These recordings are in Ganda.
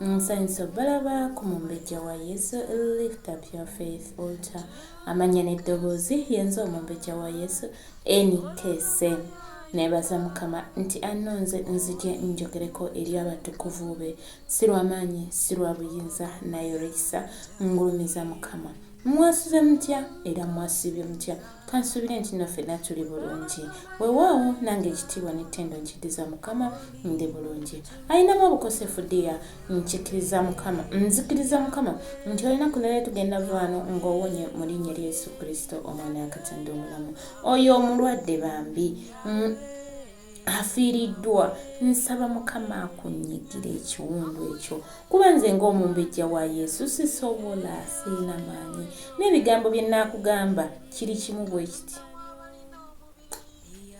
nsanyusa obalaba ku mumbejja wa yesu lift up your faith altar amanya n'eddoboozi yenze omumbejja wa yesu enikese nebaza mukama nti anonze nzije njogereko eri abatukuvu be si lwamaanyi si lwa buyinza naye olwekisa ngulumiza mukama mwasuze mutya era mwasibye mutya Kansubire nti no fena tuli bulungi. Wewaawo nange ekitiibwa ne tendo nkidiza mukama ndi bulungi. Ayinamu obukosefu dear nkikiriza mukama nzikiriza mukama nti olunaku nalwe tugenda vaano nga owonye mulinya erya yesu kristo omwana wakatonda omulamu. Oyo omulwadde bambi. afiiriddwa nsaba mukama akunyigira ekiwundu ekyo kuba nze ng'omumbejja wa yesu sisobola siina maanyi n'ebigambo bye nnaakugamba kiri kimu bwe kiti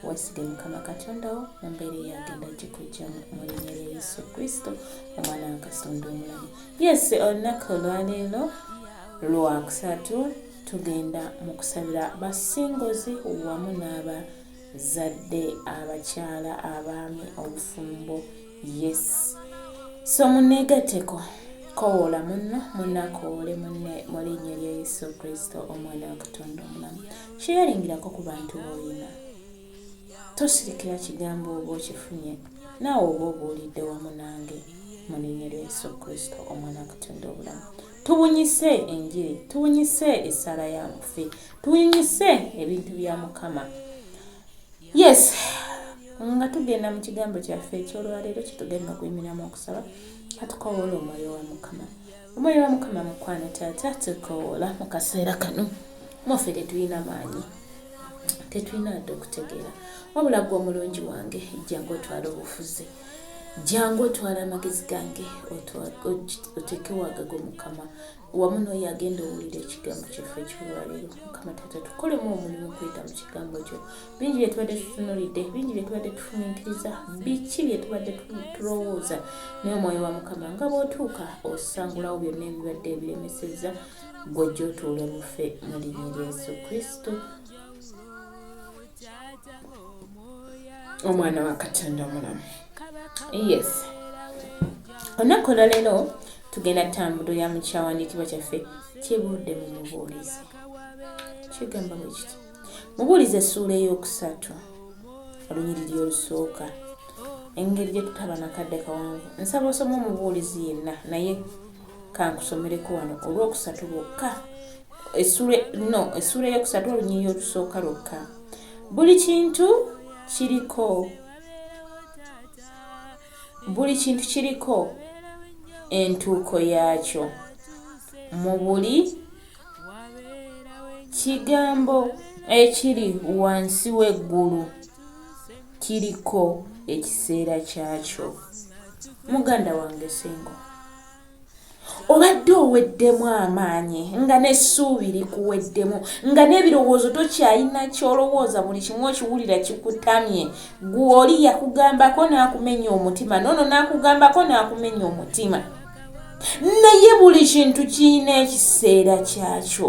wasige mukama katondawo mu mbeera eyagenda gikujjamu mu linnya lya yesu kristo omwana wa katonda omulamu yesi olunaku olwaleero lwakusatu tugenda mu kusabira basingozi wamu n'aba zadde abakyala abaami obufumbo yes so munegateko kowoola munno munakoole munne mu linnya lya yesu kristo omwana wa katonda omulamu kyeyaringirako ku bantu boolina tosirikira kigambo oba okifunye naawe oba obuulidde wamu nange mu linnya lya yesu kristo omwana wa katonda obulamu Tubunyise enjiri, tubunyise essaala ya mufi, tubunyise ebintu bya Mukama. Yes, nga tugenda mu kigambo kyaffe eky'olwaleero kitugenda okuyimiramu okusaba katukowoola omwoyo wa Mukama. Omwoyo wa Mukama mukwano taata tukowoola mu kaseera kano mwaffe tetulina maanyi tetulina wadde okutegeera wabula gwe omulungi wange ejjangu otwala obufuzi jangu otwala amagezi gange oteeke wagago mukama wamu noyo agenda owulira ekigambo kyaffe ekiwaliro mukama tata tukolemu omulimu okuyita mu kigambo kyo bingi byetubadde tutunulidde bingi byetubadde tufuminkiriza biki byetubadde tulowooza naye omwoyo wa mukama nga bwotuuka osangulawo byonna ebibadde ebiremeseza gwojja otuule mufe mu linnya lya yesu kristo omwana wa katonda omulamu yes olunaku olwaleero tugenda tambulo ya mukyawandiikibwa kyaffe kibuudde mu mubuulizi kigamba bwe kiti mubuulizi essuula ey'okusatu olunyiriri olusooka engeri gye tutaba nakadde kawanvu nsaba osoma omubuulizi yenna naye kankusomereko wano olwokusatu lwokka esula no esula eyokusatu olunyiriri olusooka lwokka buli kintu kiriko buli kintu kiriko entuuko yaakyo mu buli kigambo ekiri wansi w'eggulu kiriko ekiseera kyakyo muganda wange singo obadde oweddemu amaanyi nga n'essuubi likuweddemu nga n'ebirowoozo tokyalina kyolowooza buli kimu okiwulira kikutamye gwoli yakugambako n'akumenya omutima nono n'akugambako n'akumenya omutima naye buli kintu kirina ekiseera kyakyo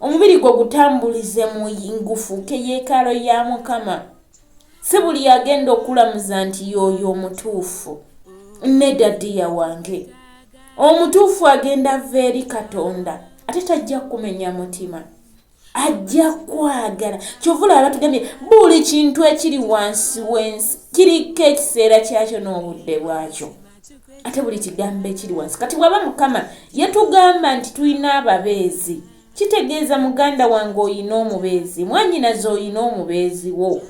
omubiri gwo gutambulize mu ngufuuka eyeekaalo ya mukama si buli agenda okulamuza nti yooyo omutuufu neda diya wange omutuufu agenda va eri katonda ate tajja kumenya mutima ajja kwagala kyovula abatugambye buli kintu ekiri wansi w'ensi kiriko ekiseera kyakyo n'obudde bwakyo ate buli kigambo ekiri wansi kati waba mukama yetugamba nti tulina ababeezi kitegeeza muganda wange oyina omubeezi mwanyinaze oyina omubeezi wo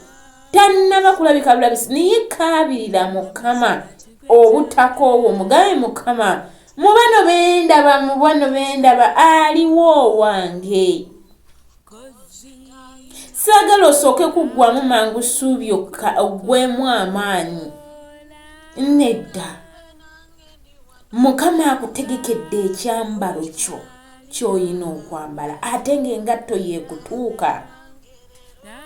tannaba kulabika bulabisi naye kaabirira mukama obutakoowo mugabe mukama mu bano bendaba mu bano bendaba aliwo owange saagala osooke kuggwamu mangu ssuubi okka oggwemu amaanyi nedda mukama akutegekedde ekyambalo kyo kyoyina okwambala ate ngaengatto yekutuuka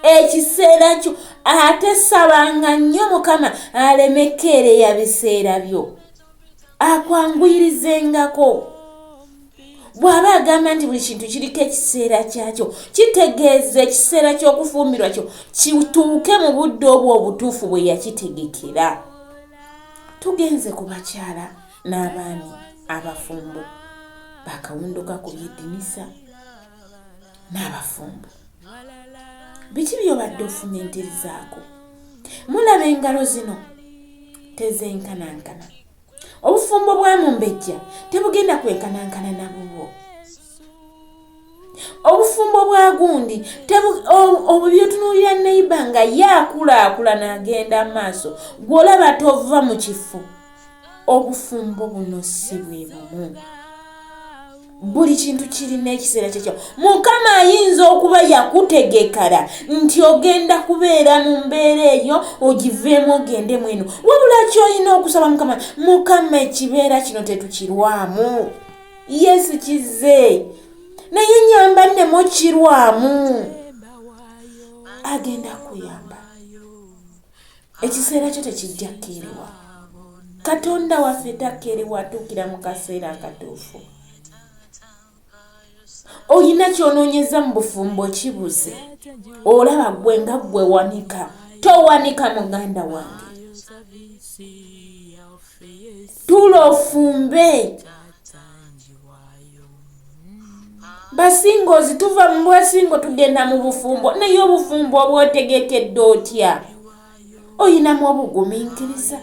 ekiseera kyo ate sabanga nnyo mukama alemekeereya biseera byo akwanguyirize ngako bw'aba agamba nti buli kintu kiriko ekiseera kyakyo kitegeeza ekiseera ky'okufumbirwa kyo kituuke mu budde obwo obutuufu bwe yakitegekera tugenze ku bakyala n'abaami abafumbo bakawunduka ku byedinisa n'abafumbo biki byobadde ofumintizaako mulaba engalo zino tezenkanankana obufumbo bwa mumbejja tebugenda kwenkanankana na bubwo obufumbo bwa gundi obwo byotunuulira neiba nga ye akulaakulana agenda amaaso gwolaba tova mu kifo obufumbo buno si bwe bumu buli kintu kirina ekiseera kyekyo mukama ayinza okuba yakutegekala nti ogenda kubeera mu mbeera eyo ogiveemu ogende mweno wabula kyolina okusaba mukama mukama ekibeera kino tetukirwamu yesu kizze naye nyamba nemukirwamu agenda kuyamba ekiseera kyo tekijja kkeerewa katonda waffe takkeerewa atuukira mu kaseera akatuufu olina kyonoonyeza mu bufumbo kibuze olaba gwe nga gwe wanika towanika muganda wange tuula ofumbe basinga ozituva mu bwasingo tugenda mu bufumbo naye obufumbo obwotegekedde otya oyinamu obugumiikiriza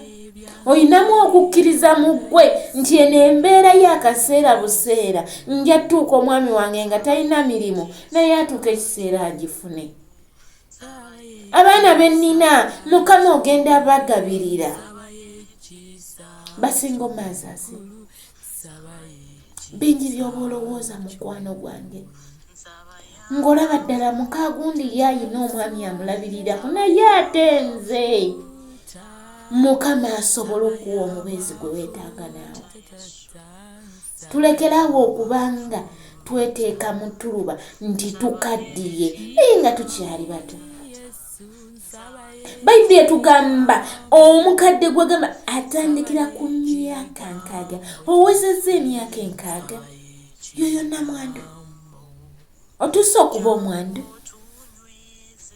olinamu okukkiriza mu ggwe nti eno embeera y'akaseera buseera nja tuuka omwami wange nga talina mirimu naye atuuka ekiseera agifune abaana bennina mukama ogenda bagabirira basinga omazazi bingi byoba olowooza mukwano gwange ng'olaba ddala mukaagundi ye ayina omwami amulabirirako naye ate nze mukama asobole okuwa omubeezi gwe weetaaga naawe tulekerawo okubanga tweteeka mu tuluba nti tukaddiye naye nga tukyali bato bayibuli etugamba omukadde gwegamba atandikira ku myaka nkaaga owezeza emyaka enkaaga yoyo namwandu otuuse okuba omwandu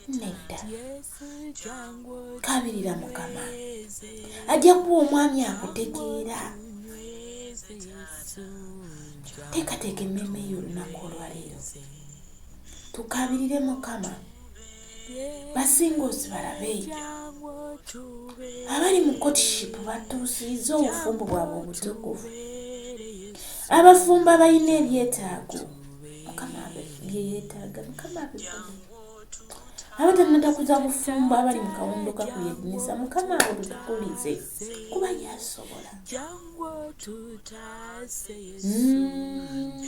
nedda kabirira mukama ajja kuba omwami akutegeera teekateeka emmeeme yo olunaku olwaleero tukabirire mukama basinga osibalabe abali mu kotiship batuusiiza obufumbo bwabwe obutukuvu abafumbo abalina ebyetaago mukama byeyetaaga mukama abatanata kuza bufumbo abali mu kawondo kakuyedinisa mukama abo tutukulize kuba yasobola mm.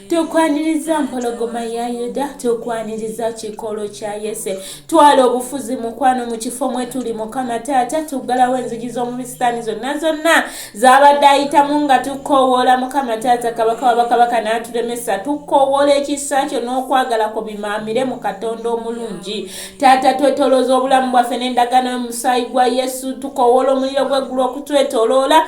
tukwaniriza mpologoma ya yuda tukwaniriza kikolo kya yese twala obufuzi mukwano mu kifo mwe tuli mukama taata tuggalawo enzigi z'omubisitaani zonna zonna zabadde ayitamu nga tukoowoola mukama taata kabaka wabakabaka n'aturemesa tukoowoola ekisa kyo n'okwagala ku bimaamire mu katonda omulungi taata twetolooza obulamu bwaffe n'endagaano y'omusaayi gwa yesu tukoowoola omuliro gw'eggulu okutwetoloola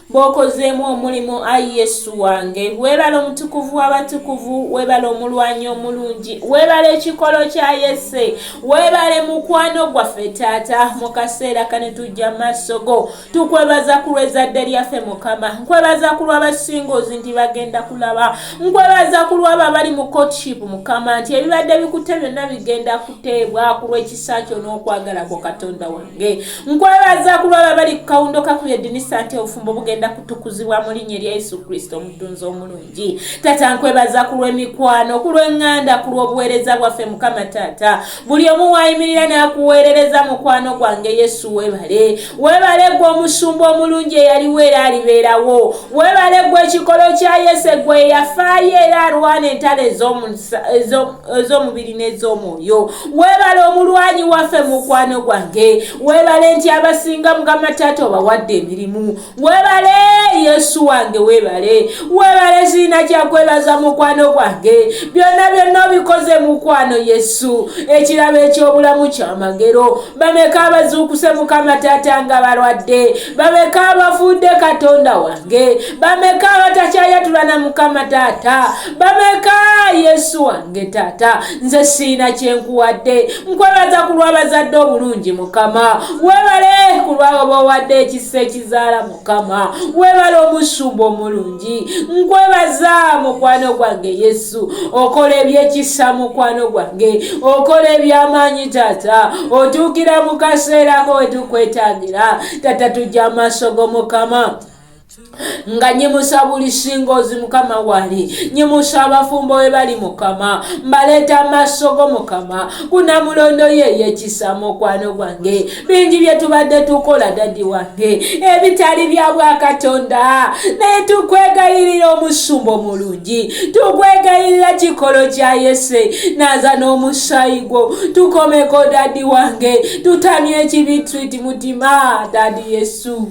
bw'okozeemu omulimu ayi yesu wange weebale omutukuvu w'abatukuvu weebale omulwanyi omulungi weebale ekikolo kya yese weebale mukwano gwaffe taata mu kaseera kane tujja maaso go tukwebaza ku lw'ezzadde lyaffe mukama nkwebaza ku lw'abasingozi nti bagenda kulaba nkwebaza ku lw'abo abali mu courtship mukama nti ebibadde bikute byonna bigenda kuteebwa ku lw'ekisa kyo n'okwagala kwo katonda wano nkwebaza kulwaba bali ku kawundo kakuyo edinisa nti obufumbo bugenda kutukuzibwa mu linnya erya yesu kristo omutunzi omulungi taata nkwebaza ku lw'emikwano ku lw'eŋŋanda ku lw'obuweereza bwaffe mukama taata buli omu waayimirira n'akuweerereza mukwano gwange yesu webale webale gwe omusumba omulungi eyaliwo era alibeerawo webale gwe ekikolo kya yesu egwe eyafaayo era alwana entalo ez'omubiri n'ez'omwoyo webale omulwanyi waffe mukwano gwange webale nti abasinga mukama taata obawadde emirimu webale yesu wange webale webale ziina kyakwebaza mukwano gwange byonna byonna obikoze mukwano yesu ekirabo ekyobulamu kyamagero bameka abazuukuse mukama taata nga balwadde bameka abafuudde katonda wange bameka abatakyayatulana mukama taata bameka yesu wange nge taata nze siina kyenkuwadde nkwebaza ku lwabazadde obulungi mukama webale ku lwabo bawadde ekisa ekizaala mukama webale omusumba omulungi nkwebaza mukwano gwange yesu okola ebyekisa mukwano gwange okola ebyamaanyi taata otuukira mu kaseerako wetukwetagira taata tujja amaaso go mukama nga nyimusa buli singoozi mukama wali nyimusa abafumbo we bali mukama mbaleeta amaaso go mukama kuna mulondo yo eyekisa mukwano gwange bingi bye tubadde tukola dadi wange ebitali bya bwakatonda naye tukwegayirira omusumba omulungi tukwegayirira kikolo kya yese naza n'omusaayi gwo tukomeko dadi wange tutamye ekibi twiti mutima dadi yesu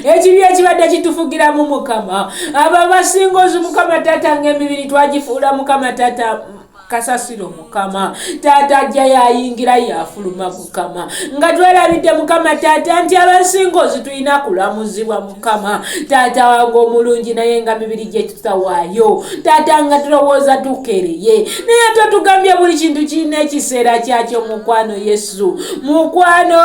ekibi ekibadde kitufugira mu mukama abo abasinga ozi mukama taata ngaemibiri twagifuula mukama taata kasasiro mukama taata ajja yayingira yafuluma mukama nga twelabidde mukama taata nti abasinga ozi tulina kulamuzibwa mukama taata wange omulungi naye nga mibiri gyetutawaayo taata nga tulowooza tukereye naye totugambye buli kintu kirina ekiseera kyakyo mukwano yesu mukwano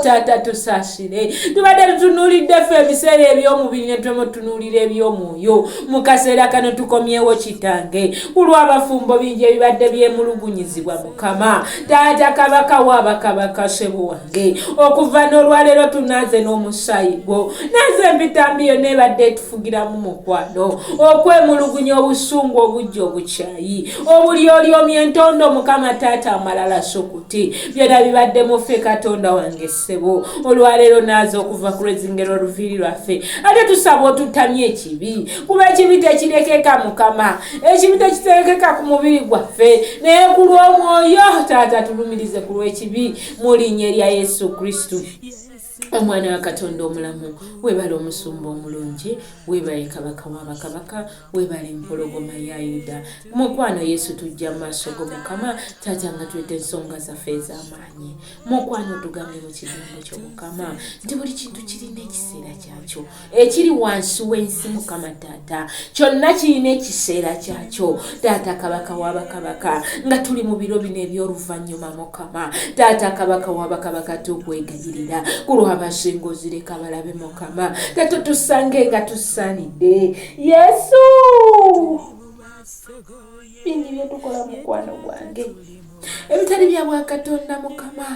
taata tusas kire tubadde tutunuulidde ffe ebiseera eby'omubiri ne twemutunuulira eby'omwoyo mu kaseera kano tukomyewo kitange kulw'abafumbo bingi ebibadde byemulugunyizibwa mukama taata kabaka wabakabaka sebo wange okuva n'olwaleero tunaaze n'omusaayi gwo naaze empitambi yonna ebadde etufugiramu mukwano okwemulugunya obusungu obujja obukyayi obulyolyomi entondo mukama taata amalala sukuti byona bibadde muffe katonda wange sebo olwaleero naaza okuva ku lwezingero oluviiri lwaffe ate tusaba otuttamye ekibi kuba ekibi tekirekeka mukama ekibi tekiterekeka ku mubiri gwaffe naye ku lw'omwoyo taata tulumirize ku lw'ekibi mu linnya erya yesu kristu omwana wa katonda omulamu webale omusumba omulungi webale kabaka wa bakabaka webale empologoma ya yuda mukwano yesu tujja mu maaso go mukama taata nga tweta ensonga zaffe ez'amaanyi mukwano otugambye mu kigambo kyo mukama nti buli kintu kirina ekiseera kyakyo ekiri wansi w'ensi mukama taata kyonna kirina ekiseera kyakyo taata kabaka wabakabaka nga tuli mu biro bino eby'oluvannyuma mukama taata kabaka wabakabaka tukwegayirira ku lwabasinga ozireka balabe mukama tato tusange nga tusanidde yesu bingi byetukola mukwano gwange ebitali bya bwakatonda mukama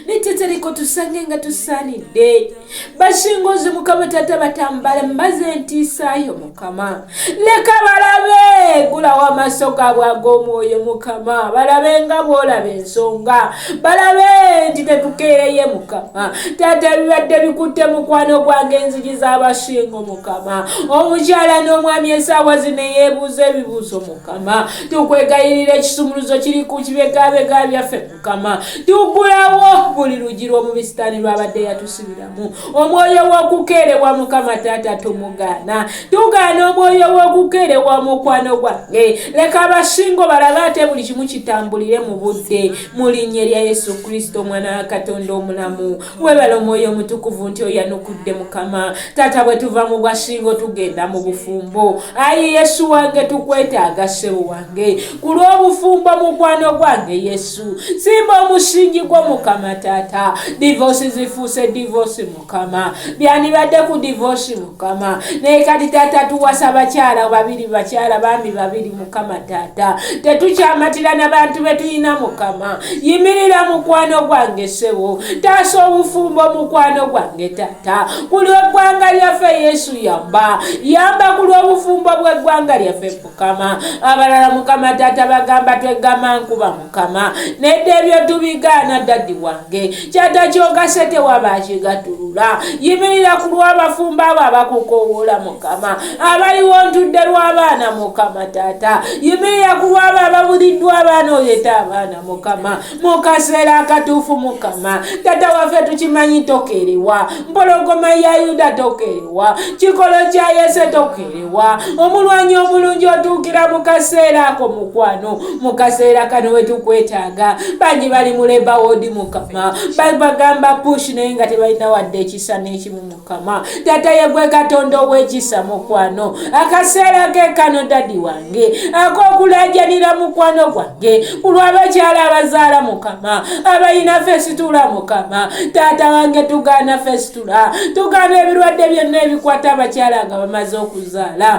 netetereko tusange nga tusaanidde bashingozi mukama tata batambale mbaze entiisaayo mukama leka balabe gulawo amaaso gaabwe ag'omwoyo mukama balabe nga bwolaba ensonga balabe nti tetukeereye mukama tata bibadde bikutte mukwano gwange enzigi z'abashingo mukama omukyala n'omwami esaawa zino eyeebuuza ebibuuzo mukama tukwegayirira ekisumuluzo kiri ku kibegabega byaffe mukama tugulawo buli lugi lw'omubisitaani lwabadde yatusibiramu omwoyo w'okukeerewa mukama taata tumugaana tugaana omwoyo w'okukeerewa omukwano gwange leka abasingo balabe ate buli kimu kitambulire mu budde mu linnya erya yesu kristo omwana wa katonda omulamu webale omwoyo omutukuvu nti oyanukudde mukama taata bwetuva mu bwashingo tugenda mu bufumbo ayi yesu wange tukwetaaga sebo wange ku lw'obufumbo mukwano gwange yesu simba omusingi gwo mukama taata divosi zifuuse divosi mukama byandibadde ku divosi mukama naye kati taata tuwasa bakyala babiri bakyala bambi babiri mukama taata tetukyamatira na bantu betulina mukama yimirira mukwano gwange sebo taasa obufumbo mukwano gwange taata ku lweggwanga lyaffe yesu yamba yamba ku lwobufumbo bweggwanga lyaffe mukama abalala mukama taata bagamba twegamba nkuba mukama nedda ebyo tubigaana daddi wange kyata kyogase tewaba akigatulula yimirira ku lw'abafumbo abo abakukowoola mukama abaliwo ntudde lw'abaana mukama taata yimirira ku lw'abo ababuliddwa abaana oyeta abaana mukama mu kaseera akatuufu mukama tata waffe tukimanyi tokerewa mpologoma ya yuda tokerewa kikolo kya yese tokerewa ewa omulwanyi omulungi otuukira mu kaseera ako mukwano mu kaseera kano wetukwetaaga bangi bali mu leba woodi mukama bagamba push naye nga tebalina wadde ekisa n'ekimu mukama tata yegwe katonda ow'ekisa mukwano akaseera ke kano dadi wange ak'okulajanira mukwano gwange ku lw'abakyala abazaala mukama abalina fesitula mukama taata wange tugaana fesitula okusaasula tugaana ebirwadde byonna ebikwata abakyala nga bamaze okuzaala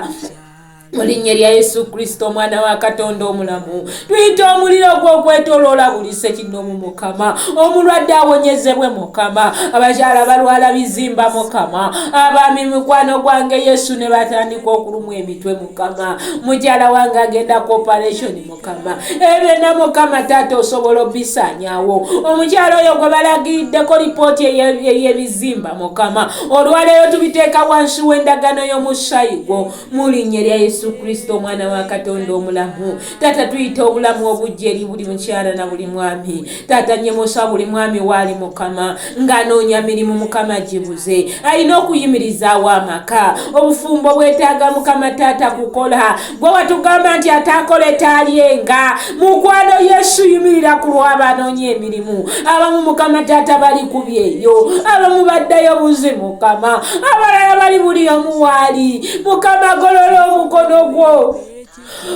mu linnya lya yesu kristo omwana wa katonda omulamu tuyita omuliro ogw'okwetoloola buli sekinoomu mukama omulwadde awonyezebwe mukama abakyala balwala bizimba mukama abaami mukwano gwange yesu ne batandika okulumwa emitwe mukama mukyala wange agenda ku operation mukama ebyonna mukama taata osobola obisaanyawo omukyalo oyo gwe balagiddeko lipooti ey'ebizimba mukama olwaleero tubiteeka wansi w'endagano y'omusaayi gwo mu linnya lya yesu kristo omwana wa katonda omulamu taata tuyita obulamu obujja eri buli mukyala na buli mwami taata nyemosa buli mwami waali mukama ng'anoonya mirimu mukama gibuze alina okuyimirizaawo amaka obufumbo bwetaaga mukama taata kukola gwe watugamba nti ataakole taalyenga mukwano yesu yimirira ku lw'abanoonya emirimu abamu mukama taata bali ku byeyo abamu baddayo buzi mukama abalala bali buli omu waali mukama golola omukono gwo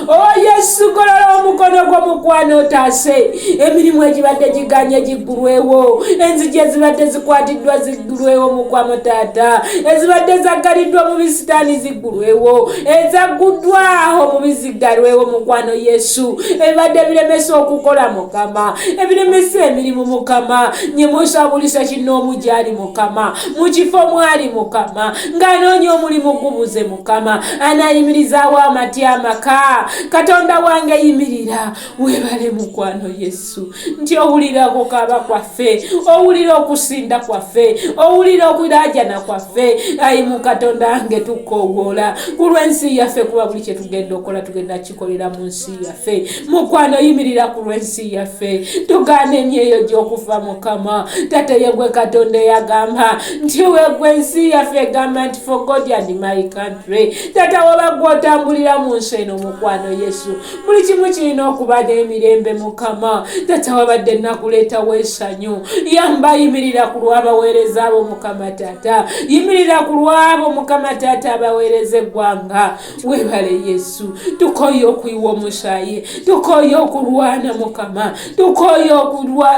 Oh Yesu golola omukono gwo mukwano otaase emirimu egibadde giganye giggulwewo enzigi ezibadde zikwatiddwa ziggulwewo mukwano taata ezibadde zaggaliddwa mu bisitaani ziggulwewo ezagguddwaho mu biziggalwewo mukwano Yesu ebibadde biremesa okukola mukama ebiremesa emirimu mukama nye musabulisa kinoomu gyali mukama mu kifo mwali mukama ng'anoonya omulimu gubuze mukama anayimirizaawo amatya amaka katonda wange yimirira webale mukwano yesu nti owulira okukaaba kwaffe owulira okusinda kwaffe owulira okulaajana kwaffe ayi mukatonda wange tukowoola ku lw'ensi yaffe kuba buli kyetugenda okola tugenda tukolera mu nsi yaffe mukwano yimirira ku lw'ensi yaffe tugaana emyeyo gy'okufa mukama tate yegwe katonda eyagamba nti wegwe ensi yaffe egamba nti for god and my country tata waba gwotambulira mu nsi eno mukwano yesu buli kimu kirina okuba n'emirembe mukama tata wabadde nakuleetawo esanyu yamba yimirira ku lw'abaweereza abo mukama tata yimirira ku lw'abo mukama tata abaweereza eggwanga webale yesu tukoye okuyiwa omushaye tukoye okulwana mukama tukoye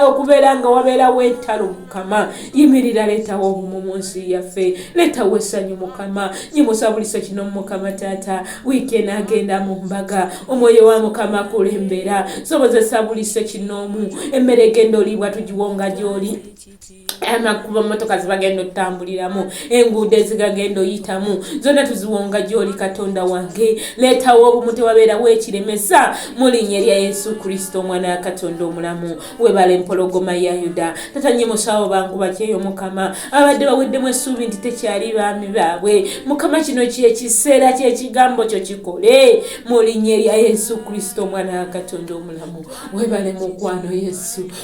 okubeera nga wabeerawo entalo mukama yimirira leetawo obumu mu nsi yaffe leetawo essanyu mukama nyimusabulisa kino mukama taata wiiki enagenda mu mbaga omwoyo wa mukama kulembera sobozesa bulise kinoomu emmere egenda oliibwa tugiwonga gyoli amakubo motoka zibagenda otambuliramu enguudo ezigagenda oyitamu zonna tuziwonga gyoli katonda wange leetawo obumu tewabeerawo ekiremesa mulinya erya yesu kristo omwana ya katonda omulamu webala empologoma ya yuda tatanye musawo bangu bakyeyo mukama abadde baweddemu essuubi nti tekyali baami baabwe mukama kino kyekiseera kyekigambo kyo kikole mulinya erya yesu kristo omwana ya katonda omulamu webale mukwano yesu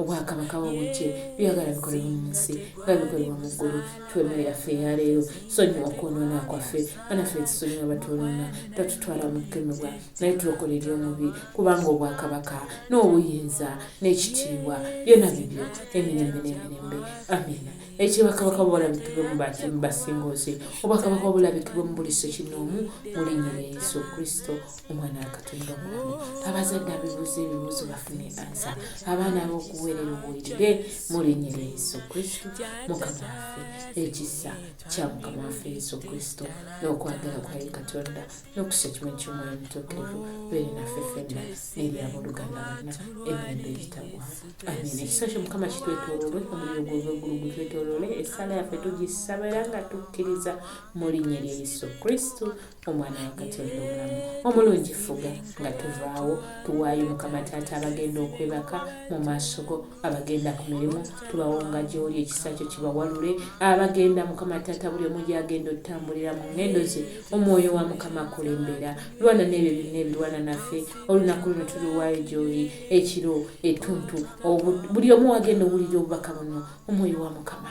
obwakabaka bwobujje byagala bikolebwa mu nsi nga bikolebwa mu ggulu twemere yaffe eyaleero sonyiwa okwonoona kwaffe banaffe ekisonyiwa batwonoona tatutwala mu kukemebwa naye tulokole eri omubi kubanga obwakabaka n'obuyinza n'ekitiibwa byona bibyo emirembe n'emirembe amiina ekyo bakabaka bwolabikibwe mu basingoozi obwakabaka obulabikibwe mu buli sekinoomu mu linnya lya yesu kristo omwana akatulira omulamu abazadde abibuuza ebibuuzo bafune ansa abaana abokuweerera obuwulire mulinyira yesu kristo mukama waffe ekisa kya mukama waffe yesu kristo n'okwagala kwaye katonda n'okusa ekimu ky'omwoyo mutuukirivu beere naffe fenna n'eryab'oluganda bonna emirembe egitagwa amina ekisa kyo mukama kitwetololwe omuliro gw'obweggulu gutwetolole esaala yaffe tugisabera nga tukkiriza mu linya lya yesu kristo omwana wa katonda omulamu omulungi fuga nga tuvaawo tuwaayo mukama taata abagenda okwebaka mu maaso go abagenda ku mirimu tubawonga gyoli ekisa kyo kibawalule abagenda mukama taata buli omu gyagenda otutambulira mu ngendo ze omwoyo wa mukama akulembera lwana n'ebyo byonna ebirwana naffe olunaku luno tuliwaayo gyoli ekiro etuntu buli omu wagenda owulira obubaka buno omwoyo wa mukama